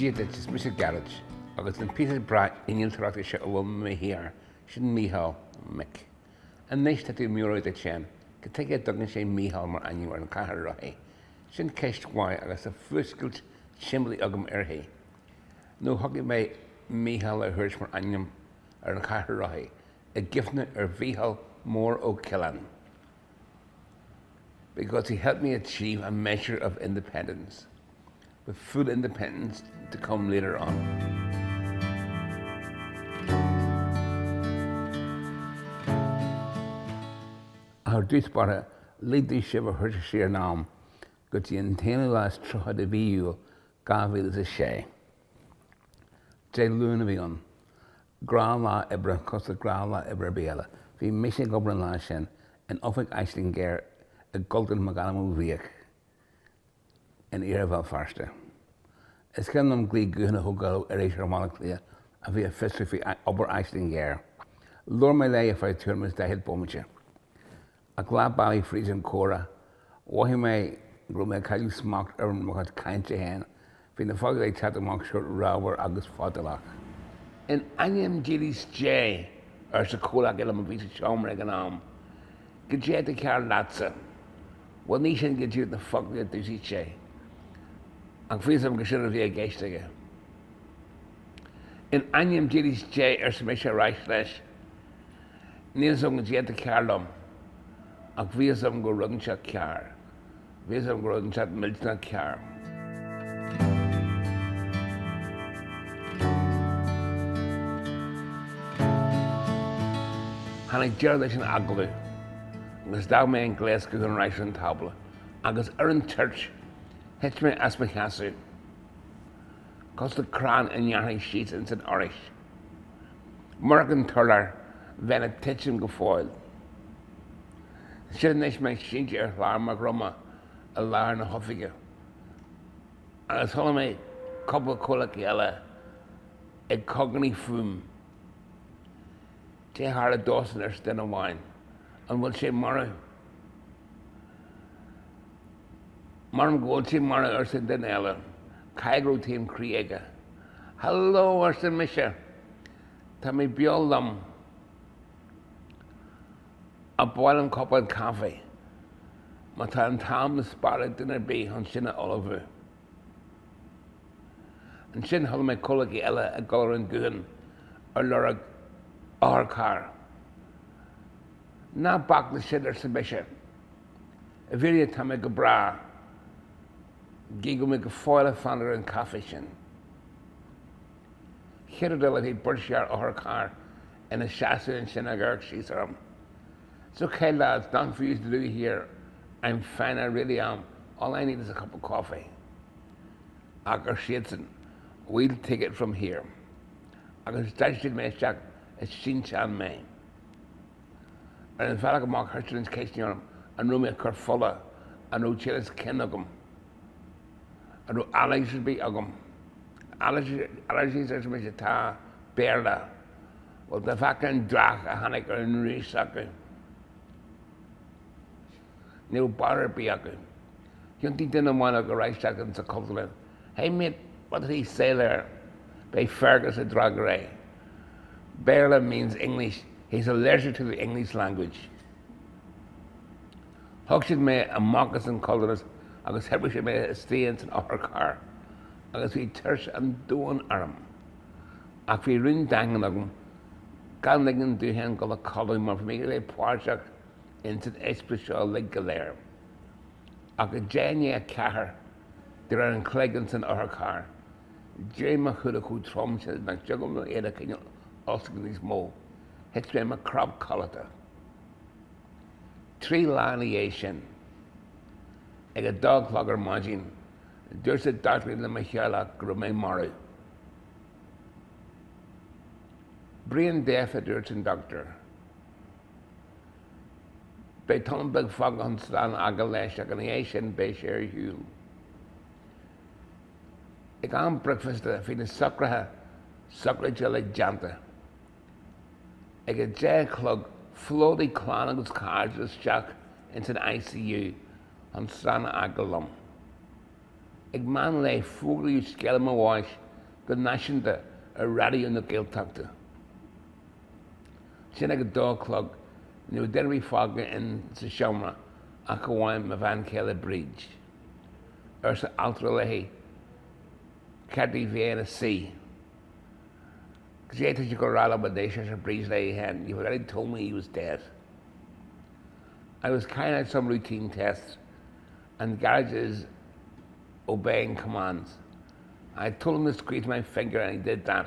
Dia duit, is mise Gearóid, agus an píosa breá innealtóireachta seo a bhfuil mé i mo shuí air, sin Mícheál, Mick. Anois, tá tú ag meabhrú duit féin, cad tuige a dtugann sé Mícheál mar ainm ar an chathaoir rothaí? Sin ceist mhaith, agus tá fuascailt simplí agam uirthi. Nó shocraigh mé Mícheál a thabhairt mar ainm ar an chathaoir rothaí, i gcuimhne ar Mhícheál Mór Ó Coileáin. because he helped me achieve a measure of independence, with full independence to come later on. Ar dtús báire, lig domh sibh a thabhairt siar in am go dtí an t-aonú lá is tríocha de mhí Iúil 2006. Dé Luain a bhí ann. Gnáthlá oibre cosúil le gnáthlá oibre ar bith eile. Bhí mise ag obair an lá sin in oifig Aisling Ghéar i gCultúrlann McAdam Ó Fiaich in iarthar Bhéal Feirste. Is cuimhin liom glaoch gutháin a thógáil ó iriseoir i mBaile Átha Cliath a bhí ag fiosrú faoi obair Aisling Ghéar. Labhair mé léi ar feadh tuairim is daichead bomaite. Ach leath bealaigh fríd an comhrá, mhothaigh mé go raibh mé ag cailleadh smacht ar mo chuid cainte féin, bhí na foclaí ag teacht amach seort ramhar agus fadálach. In ainm dílis Dé! arsa comhleacaí liom a bhí sa seomra ag an am, cad é atá cearr leatsa! Bhuel, ní sin go díreach na foclaí a d'úsaid sé, ach bhí a fhios agam gur sin a bhí i gceist aige. In ainm dílis Dé, arsa mise ar ais leis. Níl a fhios agam cad é atá cearr liom, ach bhí a fhios agam go raibh rud inteacht cearr, bhí a fhios agam go raibh rud inteacht millteanach cearr. Tháinig deireadh leis an agallamh agus d'fhág mé an gléas gutháin ar ais ar an tábla, agus ar an toirt thit mé as mo sheasamh cosúil le crann a ngearrfaí síos ins an fhoraois. Murach an t-urlár, bheinn ag titim go fóill. Siúd anois mé sínte ar chlár mo dhroma i lár na hoifige agus chuala mé cúpla comhleacaí eile ag cogarnaigh fúm. Cad é a tharla dósan arsa duine amháin. An bhfuil sé marbh? M'anam go bhfuil sé marbh arsa an duine eile, caithfidh go raibh taom croí aige. Hello arsa mise, tá mé beo liom ach b'áil liom cupán caife má tá an t-am le spáráil ag duine ar bith chun sin a ullmhú. Ansin chuala mé comhleacaí eile ag gabháil ar an ghuthán ar lorg otharcharr. Ná bac leis sin arsa mise. I bhfírinne, tá mé go breá, gidh go bhfuil mé go fóill ag fanacht ar an chaife sin. Chéad rud eile bhí beirt fhear otharchairr ina seasamh ansin ag amharc síos orm. It's okay lads, nothing for yous to do here, I'm fine, I really am, all I need is a cup of coffee. Ach, ar siadsan, we'll take it from here. Agus d'fháisc siad mé isteach i sínteán mé. Ar an bhealach amach thoisigh na ceisteanna orm an raibh mé ag cur fola, an raibh tinneas cinn agam, an raibh allergies ar bith agam. Allergies, arsa mise, tá, Béarla, bhuel dá bhfeicfeá an dreach a tháinig ar an dís acu. Ní raibh barúil ar bith acu. Thiontaigh duine amháin acu ar ais isteach sa Chultúrlann. Hey mate, what did he say there? Ba é Fergus a d'fhreagair é. Béarla means English, he's allergic to the English language. Thug siad mé amach as an Chultúrlann agus thuirpigh siad mé istigh insan otharcharr agus bhí tuirse an domhain orm. Ach bhí rún daingean agam gan ligean domh fhéin dul a chodladh mar bhí mé le bheith páirteach insan eispéireas seo uilig go léir. ach ag deich i ndiaidh a ceathair de réir an chloig insan otharcharr, d'éirigh mo shúile chomh trom sin nach dtiocfadh liom iad a choinneáil oscailte níos mó. Thit mé i mo chnap codlata. Trí lá ina dhiaidh sin, ag a dó a chlog ar maidin, dúirt an dochtúir le mo theaghlach go raibh mé marbh. Brain dead, a dúirt an dochtúir. Beidh tamall beag fágtha chun slán a fhágáil leis ach ina dhiaidh sin beidh sé ar shiúl. Ag am bricfeasta bhí na socruithe sochraide uilig déanta. Ag a deich a chlog phlódaigh clann agus cairde isteach ins an ICU chun slán a fhágáil liom. Ag meán lae fógraíodh scéala mo bháis go náisiúnta ar Raidió na Gaeltachta. sin ag a dó a chlog ní raibh duine ar bith fágtha insa seomra ach amháin mo bhean chéile Bríd. arsa altra léi gurbh fhearr di bheith ina suí? Cad é tá siad ag gabháil a rá liom anois? arsa Bríd léi féin You've already told me he was dead. I was carrying out some routine tests and Gearóid is obeying commands. I told him to squeeze my finger and he did that.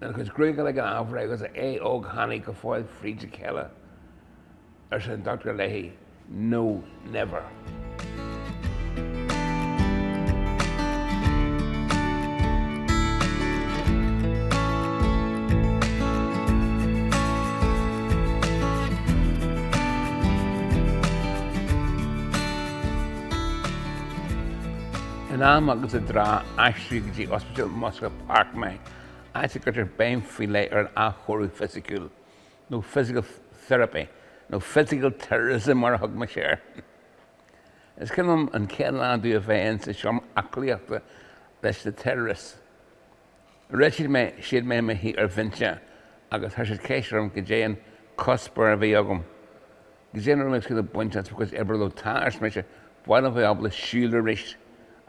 An chuid chruacha ag an athbhreith agus a ae óg tháinig go fóill fríd a chéile, arsa an dochtúir léi, No, never. In am agus i dtráth, aistríodh go dtí Ospidéal Musgrave Park mé áit a gcuirtear béim faoi leith ar an athchóiriú fisiciúil, nó physical therapy, nó physical terrorism mar a thug mise air. Is cuimhin liom an chéad lá domh a bheith ins an seomra aclaíochta leis na terrorists. Rith siad mé, siad mé i mo shuí ar bhinse agus chuir siad ceist orm goidé an cuspóir a bhí agam. Goidé a raibh mé ag súil le baint as mo chuid oibre leo Tá, arsa mise, bhuel, a bheith ábalta siúl arís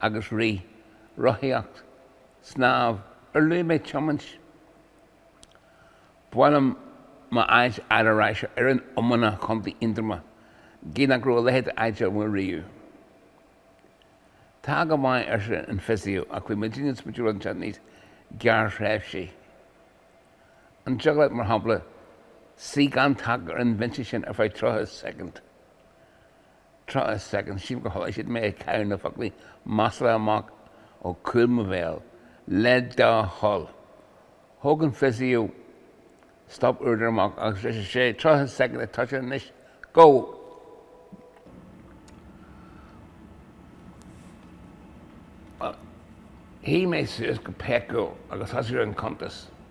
agus rith, rothaíocht. snámh, ar luaigh mé tiomáint? Ba mhaith liom m'áit a fháil ar ais ar fhoireann iomána Chontae Aontroma, gidh nach raibh a leithéid de áit agam riamh. Tá go maith, arsa an fisio, ach bhí muidinne ag smaointiú ar rud inteacht níos gearrthréimhsí. An dtiocfadh leat, mar shampla, suí gan taca ar an bhinse sin ar feadh tríocha soicind? Tríocha soicind, chualaidh siad mé ag caitheamh na foclaí maslacha amach ó chúl mo bhéal, le do thoil. Thóg an fisio stopuaireadóir amach agus ar sé tríocha soicind ag toiseacht anois go. Shuigh mé suas go péacúil agus thosaigh an cuntas.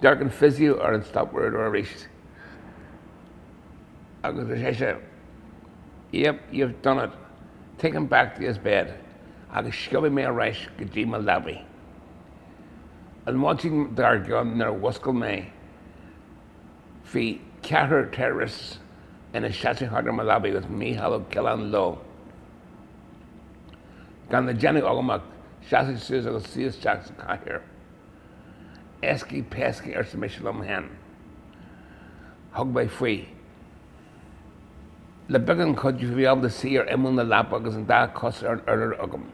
D'amharc an fisio ar an stopuaireadóir arís agus ar sé, Yep, you've done it, take him back to his bed agus sciobadh mé ar ais go dtí mo leabaidh an mhaidin dár gcionn nuair a mhúscail mé bhí ceathrar terrorists ina seasamh thart ar mo leabaidh agus Mícheál Ó Coileáin leo. Gan le déanamh agam ach seasamh suas agus suí isteach sa chathaoir. Éascaí péascaí, arsa mise liom féin. Thug mé faoi. Le beagán cuidiú bhí mé ábalta suí ar imeall na leapa agus an dá chos ar an urlár agam.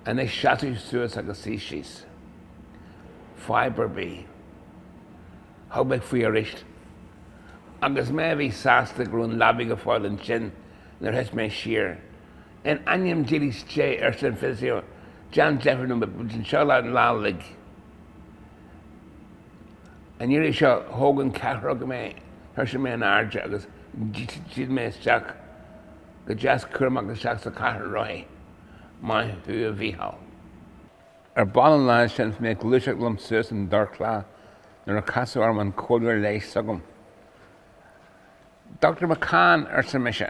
Anois seasaigh suas agus suigh síos. Fadhb ar bith. Thug mé faoi arís. Agus mé a bhí sásta go raibh an leabaidh go fóill ansin nuair a thit mé siar. In ainm dílis Dé, arsa an physio, déan deifir nó beidh muid anseo leat an lá uilig. An iarraidh seo, thóg an ceathrar mé, chuir siad mé in airde agus d'fhill mé isteach go deas cúramach isteach sa chathaoir rothaí. Maith thú a Mhícheál. Ar ball an lá sin is mé ag gluaiseacht liom suas an dorchla nuair a casadh orm an comhairleoir leighis s'agam. Dr. McCann, arsa mise,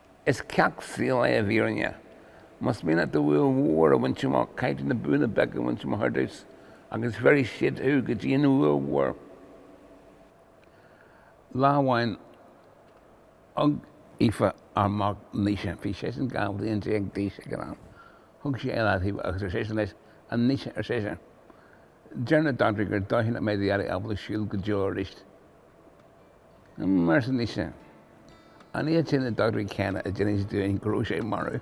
Is ceacht saoil é i bhfírinne. Más mian leat do bhua mhór a bhaint amach, caithfidh tú na buanna beaga a bhaint amach ar dtús, agus bhéarfaidh siad thú go dtí an bhua mhór lá amháin. Thug Aoife, ár mac, Naoise, bhí seisean 12 bhliain d'aois ag an am, thug sí é i leataobh agus ar seisean leis, 'A Naoise, ar sise, 'deir na dochtúirí gur dóichí nach mbeidh Daidí ábalta siúl go deo arís. Arsa Naoise, an iad sin na dochtúirí céanna a d'inis dúinn go raibh sé marbh.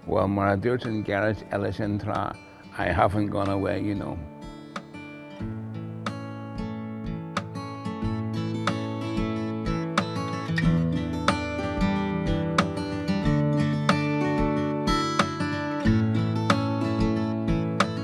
Bhuel, mar a dúirt an Gearóid eile sin tráth, I haven't gone away, you know.